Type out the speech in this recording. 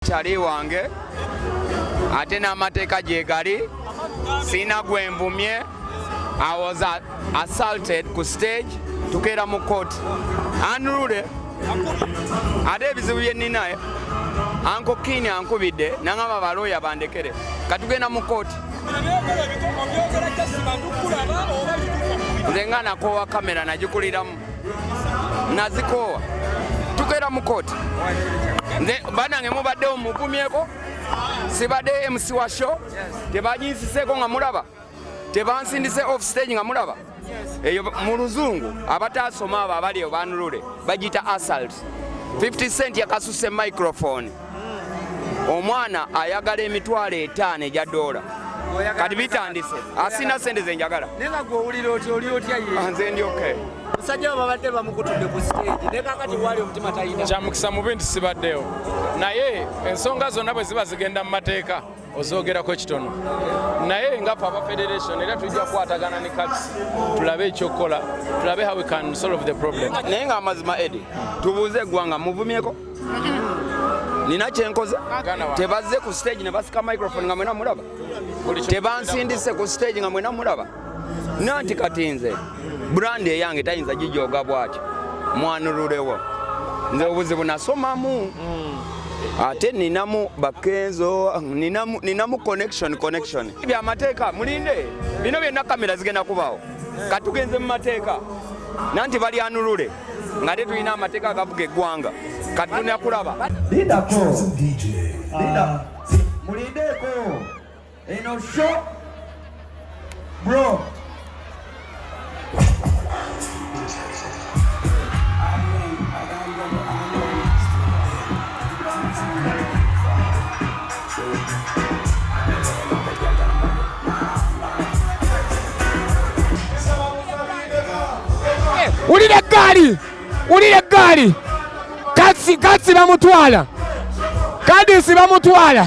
Kyali wange ate n'amateeka gyegali sirina gwe nvumye I was assaulted ku stage tukeera mu court anrule ate ebizibu bye nnina eh? anko kiini ankubidde nangamba balooya bandekere katugenda mu kooti nze nga nakowa kamera nagikuliramu nazikoowa tukeera mu kooti nze banange mubadde omugumyeko sibadde mc wa show tebanyinsiseko nga mulaba tebansindise off stage nga mulaba eyo mu luzungu abataasoma abo abali eyo banulule bagiyita asalt 50 cent yakasuse microphone omwana ayagala emitwalo etaano egya doola kati bitandise asina sente zenjagala ah, nze ndi okay musajja we babadde bamukutudde ku stage ne kakati waali omutima talina kyamukisa mubi nti sibaddewo naye ensonga zonna bwe ziba zigenda mu mateeka ozoogerako kitono naye nga fe aba federation era tujja kukwatagana ne cats tulabe ekyokukola tulabe how we can solve the problem naye nga amazima edi tubuuze eggwanga muvumyeko nina kyenkoze tebazze ku stage ne basika microphone nga mwena mulaba tebansindise ku stage nga mwena mulaba nanti kati nze brand eyange tayinza gijoga bwati mwanurulewo nze obuzibu nasomamu mm. ate ninamu bakenzo ninamu, ninamu connection connection bya mateeka mulinde bino byonna kamera zigenda kubaawo katugenze mu mateeka nanti balyanulule nga te tulina amateeka agavuga eggwanga kati tulina kulaba ah. mulindeeko Eno show bro wulira eggaali wulira eggaali katsi katsi bamutwala kadisi bamutwala